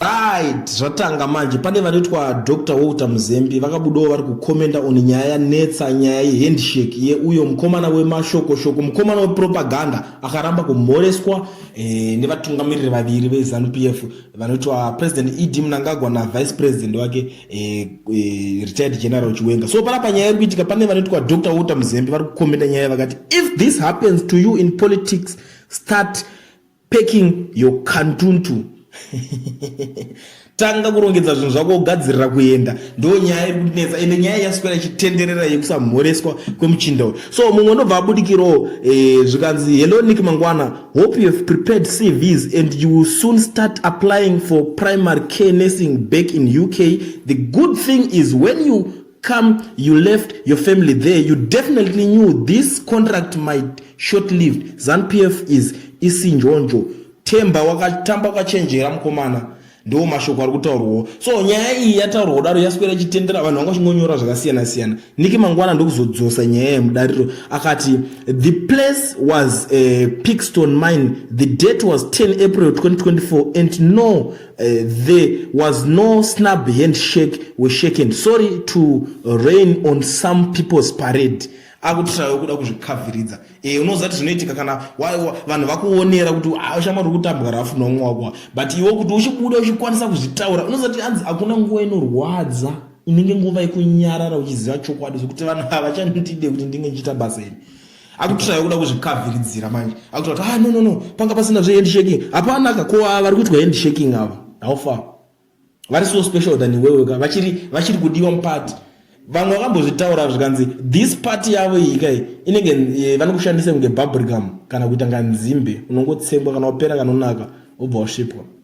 Right, zvatanga manje pane vanoitwa Dr Walter Muzembi vakabudawo vari kukomenda on nyaya yanetsa nyaya yehandshake yeuyo mukomana wemashokoshoko mukomana wepropaganda akaramba kumhoreswa eh, nevatungamiriri vaviri veZanu PF vanoitwa President ED Mnangagwa naVice President wake eh, eh, Retired General Chiwenga. So panapa nyaya iri kuitika pane vanoitwa Dr Walter Muzembi vari kukomenda nyaya vakati if this happens to you in politics start Packing your kantuntu tanga kurongedza zvinhu zvako kugadzirira kuenda ndo nyaya iri kutinetsa ende nyaya yaswera ichitenderera yekusamhoreswa kwemuchinda uyu so mumwe unobva abudikirawo eh, zvikanzi hello nick mangwana hope you have prepared cvs and you will soon start applying for primary care nursing back in uk the good thing is when you come you left your family there you definitely knew this contract might short lived zanpf is isinjonjo temba wakatamba kwachenjera mukomana ndiwo mashoko ari kutaurwawo so nyaya iyi yataurwa kudaro yaswera ichitendera vanhu vanga vachingonyora zvakasiyana siyana niki mangwana ndokuzodzosa nyaya yemudariro akati the place was a pixton mine the date was 10 april 2024 and no Uh, there was no snub handshake were shaken sorry to rain on some people's parade akutishayo kuda kuzvikaviridza e, eh, unoziva kuti zvinoitika kana vanhu vakuonera kuti ah, shamwari uri kutambwa rafu nomwe wakuwa but iwe kuti uchibuda uchikwanisa kuzvitaura unoziva kuti anzi hakuna nguva inorwadza inenge nguva yekunyarara uchiziva chokwadi zvekuti vanhu havachandide kuti ndinge ndichiita basa iri akutoshaya kuda kuzvikavhiridzira manje akutoa kuti ah no no no panga pasina zve handshaking hapana ka ko vari kuitwa handshaking ava how far vari so special than iwewe ka vachiri vachiri kudiwa mupati vamwe vakambozvitaura zvikanzi this party yavo iyi kai inenge eh, vanokushandisa kunge bubricum kana kuita nganzimbe unongotsengwa kana wapera kanonaka wobva wasvipwa